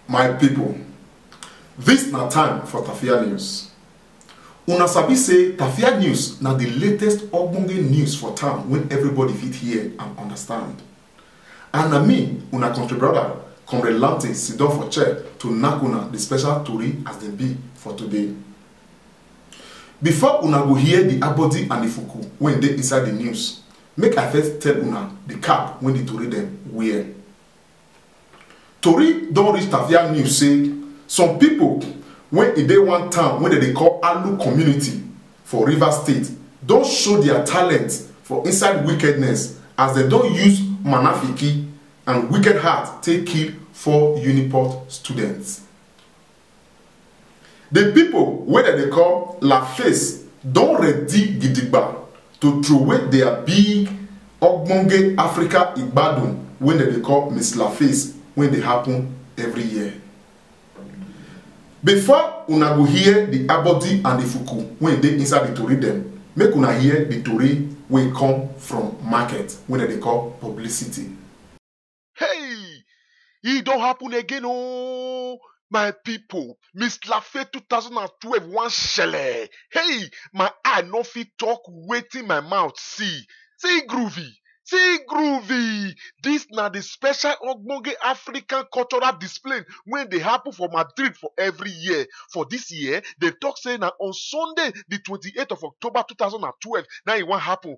my pipo dis na time for tafia news una sabi say tafia news na di latest ogbonge news for town wey everybody fit hear and understand And na me, una country brother, Comrade Lamte, sidon for chair to knack una the special tori as dem be for today. Before una go hear the abodi and the fuku wey dey inside the news, make I first tell una the cap wey the tori dem wear. Tori don reach Tavia News say some pipo wey e dey one town wey dem dey call Alu community for Rivers State don show dia talent for inside wickedness as dem don use manafiki and wicked heart take kill four Uniport students. The people wey dem dey call Laface don ready gidigba to throway their big ogbonge Africa igbadun wey dem dey call Miss Laface wey dey happen every year. Before una go hear the abodi and the fuku wey dey inside the tori dem, make una hear the tori wey come from market wey dem dey call publicity. Hey! E don happen again ooo! My pipu, Miss Lafe two thousand and twelve wan shele! Hey! My eye no fit talk wetin my mouth see. See groovy! See groovy! Dis na the special ogbonge African cultural display wey dey happen for Madrid for every year. For dis year, dem talk say na on Sunday the twenty eight of October two thousand and twelve na im e wan happen.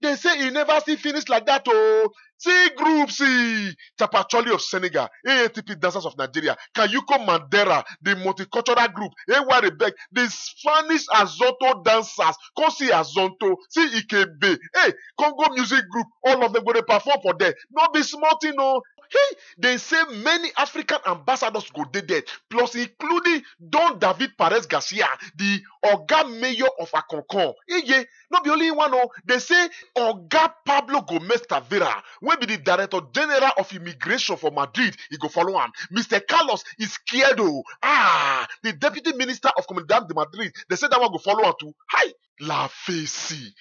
They say e never still finish like that oh. See group C, Tapacholi of Senegal, AATP Dancers of Nigeria, Kayuko Mandera, the multicultural group, AY Rebek, the Spanish Azonto Dancers, come see Azonto, see Ikebe, hey, Congo Music Group, all of them go dey perform for there. No be small thing oh. Hey, they say many African ambassadors go dey there, plus including Don David Perez Garcia, the Oga Mayor of Akonkon. Iye, No be only him one o, dey say Oga Pablo Gomez Tavera wey be di Director General of Immigration for Madrid, e go follow am. Mister Carlos Izquierdo, ah, di Deputy Minister of Comunidad de Madrid, dey say dat one go follow am too. Hi! La Face,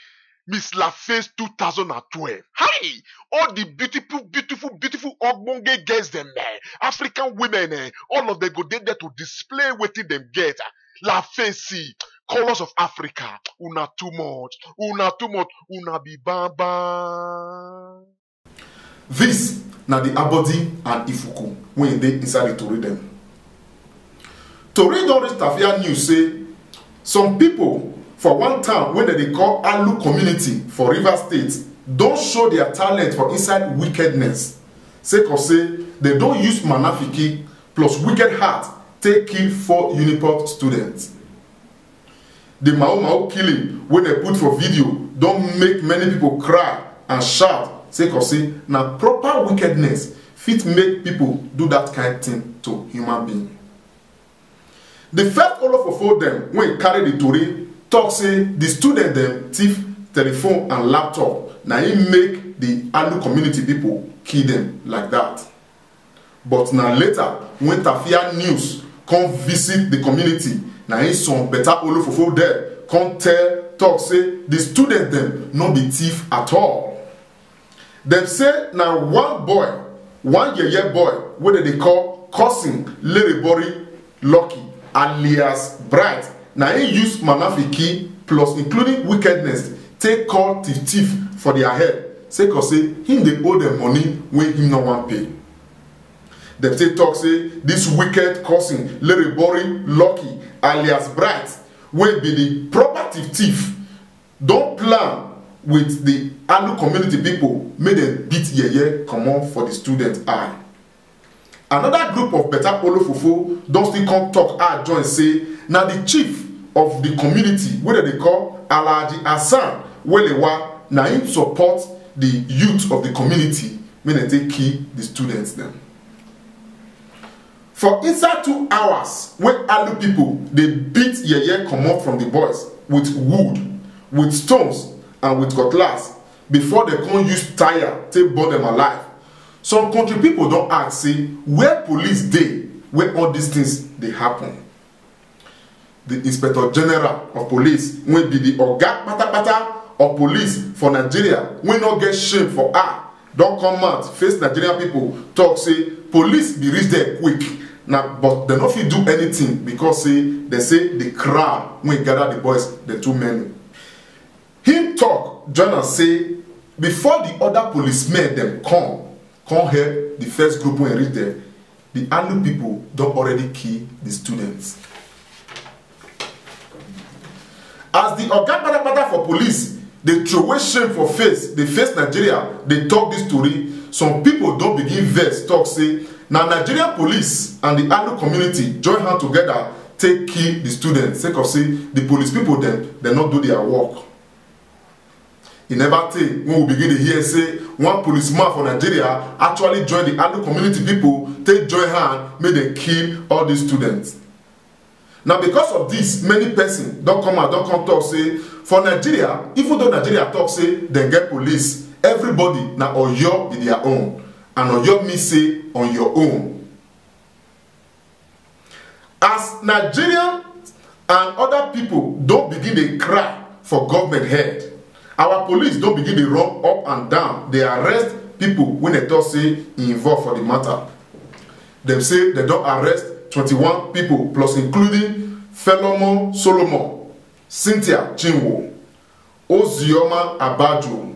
Miss La Face two thousand and twelve, hi! All di beautiful beautiful beautiful ogbonge girls dem, African women, all of dem go dey there to display wetin dem get. la fesi colours of africa una too much una too much una be bamba. This na the Abodi and Ifuku wey dey inside the tori dem. Tori don reach Tafia news say some people for one town wey dem dey call Alu community for Rivers State don show their talent for inside wickedness sake of say dem don use manafiki plus wicked heart take kill four unipob students di mao mao killing wey dem put for video don make many pipo cry and shout sake of say na proper wickedness fit make pipo do dat kain tin to human being di first olofofo dem wey carry di tori tok say di student dem thief telephone and laptop na im make di alu community pipo kill dem like dat But na later wen Tafia News come visit di community na im some beta olofofo dem come tell tok say di students dem no be thief at all. Dem say na one boy, one yeye boy wey dem dey call Cousin Lerebori Lucky alias Bright na im use Manafiki plus including wickedness take call thief thief for dia head sake of say im dey owe dem money wey im no wan pay. Dem take tok say dis wicked cousin Lerebori Lucky alias Bright wey be di proper thief thief don plan wit di Alu community pipo make dem beat yeye comot for di student eye. Another group of Beta Olofofo don still come talk add join say na the chief of the community wey dem dey call Alhaji Hassan Welewa na im support the youth of the community make dem take kill the students dem. For inside two hours wey Alu people dey beat yeye comot from the boys with wood, with stones and with cutlass before dem come use tyre take burn dem alive. Some kontri pipo don ask say where police dey wen all dis tins dey happun. Di Inspector General of Police wey be di oga kpatakpata of police for Nigeria wey no get shame for eye don come out face Nigerian pipo tok say police bin reach there quick na but dem no fit do anytin becos say dem say di crowd wey gada di boys dem too many. Him tok join am say before di oda policemen dem come come help di first group wen reach there, di Alu pipo don already kill di students. As di oga patapata for police dey throway shame for face dey face Nigeria dey tok dis tori, some pipo don begin vex tok say na Nigerian police and di Alu community join hand togeda take kill di students sake of say di police pipo dem dem no do dia work e neva tey wen we begin dey hear say one policeman for nigeria actually join di alu community pipo take join hand make dem kill all dis students na because of dis many pesin don come out don come tok say for nigeria even though nigeria tok say dem get police everybody na oyo be dia own and oyo mean say on your own as nigerian and oda pipo don begin dey cry for government head our police don begin dey run up and down dey arrest pipo wey dem tok say involve for di matter dem say dem don arrest 21 pipo plus including felomon solomon cynthia chinwo ozioma abajo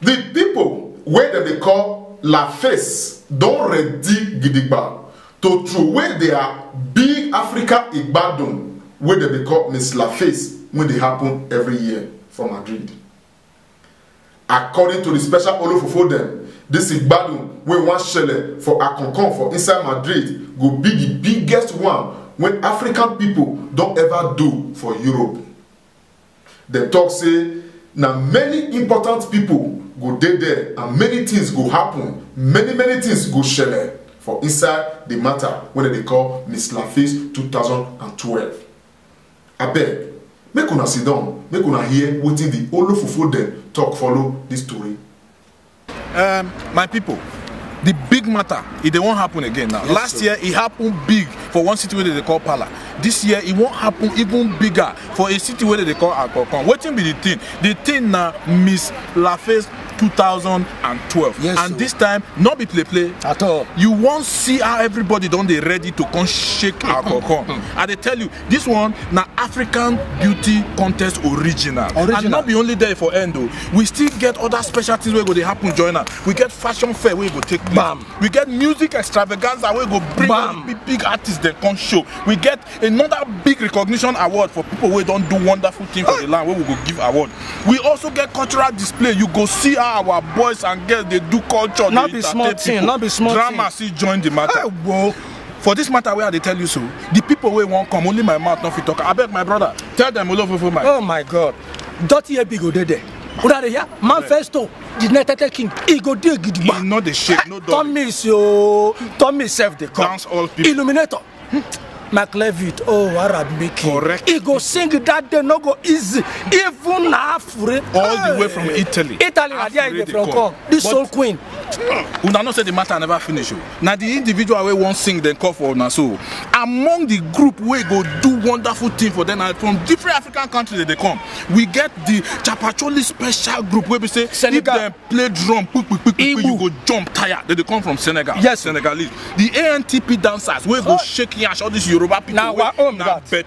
The people wey dem dey call La Face don ready gidigba to throway their big Africa Igbadun wey dem dey call Miss La Face wey dey happen every year for Madrid. According to the special olofofo dem, this Igbadun wey wan shele for Alcorcon for inside Madrid go be the biggest one wey African people don ever do for Europe. Dem talk say na many important people go dey there and many things go happen, many many things go shele for inside the matter wey dem dey call Miss Laface 2012. Abeg, make una sit down, make una hear wetin the Olofofo dem talk follow this tori. Um, my people, the big matter e dey wan happen again now last year e happen big for one city wey dem dey call pala this year e wan happen even bigger for a city wey dem dey call akokon wetin be the thing the thing na miss laface 2012 Yes, and sir. this time no be play play At all. you wan see how everybody don dey ready to come shake akokon i dey tell you This one na African Beauty Contest original. original. And not be only there for end o. We still get other special things wey go dey happen join am. We get fashion fair wey go take place. Bam. We get music extravaganza wey go bring all the big big artists dem come show. We get another big recognition award for people wey don do wonderful thing for the land wey we go give award. We also get cultural display. You go see how our boys and girls dey do culture, No dey be small entertain thing, people. no be small Drama thing. still join the matter. Hey, whoa. for this matter wey i dey tell you so the people wey wan come only my mouth no fit talk abeg my brother tell them olofofo my. oh my god dirty head big go dey there una dey hear manifesto the united king e go dey gidigba e no dey shake no dull tomis ooo tomis sef dey come Dance all people. illuminator mark levitt oh arab making Correct. e go sing that day no go easy even na afure All the way from Italy. italy na there e Afure dey dey from come. come the But- soul queen una know say the matter never finish o. na the individual wey wan sing dem call for una so among the group wey go do wonderful thing for them na from different african countries dem dey come we get the chapacholi special group wey be say if Senegal. dem play drum kpikpikpikpi you Igbo. go jump tire dem dey come from senegal Yes. senegalese the antp dancers wey go shake yansh all these yoruba people Na wey our own na that. bet-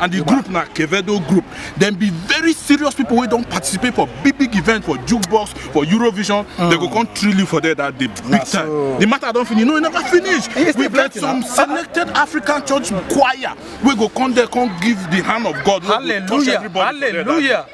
and the group na Quevedo group dem be very serious people wey don participate for big big events for jukebox for Eurovision mm. they go come trill you for there that day big time so. the matter don finish no e never finish we get some selected African church choir wey go come there come give the hand of God wey go touch everybody hallelujah.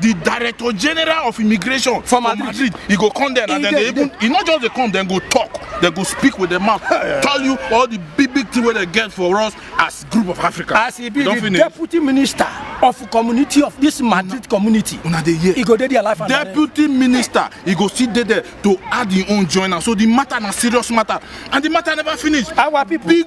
the director general of immigration for madrid, madrid. he go come there and then they even he not just dey come dem go talk dem go speak with dem mouth tell you all the big big thing wey dem get for us as group of africa as he be the deputy minister of community of this madrid community una dey hear he go dey there life and deputy minister he go still dey there to add him own join am so the matter na serious matter and the matter never finish our people big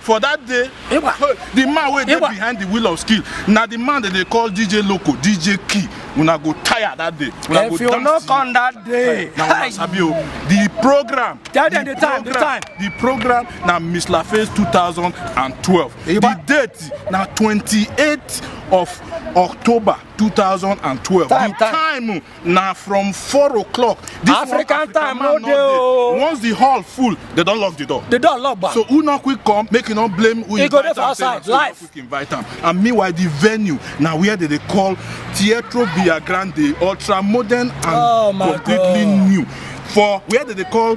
For that day, Igba. hey, the man wey dey Igba. behind the wheel of skill na the man dem dey call DJ Loco, DJ Key. Una go tire that day. Una go If you dance no till- come that day, na una sabi o. The program. Tell them the time, the program- time. The program na Miss Laface 2012. Igba. The date na 28th of October 2012. Time, the time. time na from four o'clock this African one, time no dey o once the hall full they don lock the door the door lock ba so who no quick come make you no blame who e go dey for outside life quick invite am and meanwhile the venue na where they dey call Teatro Villa Grande ultra modern and oh completely God. new for where they dey call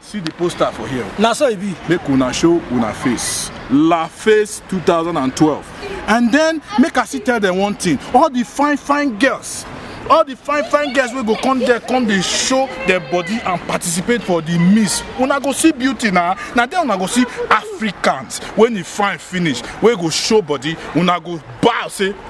See the poster for here. Na so e be. Make una show una face. La Face 2012. And then make I still tell them one thing. All the fine fine girls all the fine fine girls wey go come there come dey show their body and participate for the miss una go see beauty na na there una go see africans wey e fine finish wey go show body una go bow say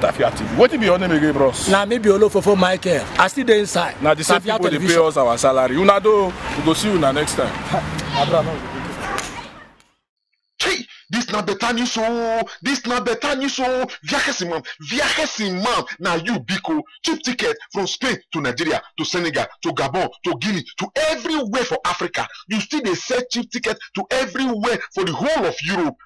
Tafia TV. Wetin be your name again, bros? Na me be Olofofo Michael. I still dey inside. Na the same Tafia people dey pay television. us our salary. Una do, we go see una next time. Hey, this na better news oh. This na better news oh. Viajes imam, viajes imam. Na you biko. Cheap ticket from Spain to Nigeria to Senegal to Gabon to Guinea to everywhere for Africa. You still dey sell cheap ticket to everywhere for the whole of Europe.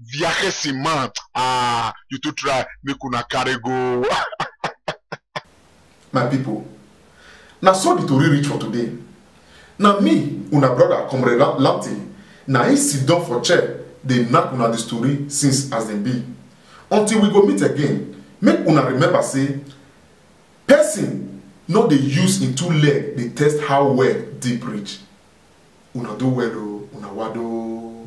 viajesi man ah you too try make una carry go. my people na so the tori reach for today na me una brother comrade lanti na he sit down for chair dey knack una the story since as dem be until we go meet again make una remember say person no dey use im two leg dey test how well deep reach una do well o una wado.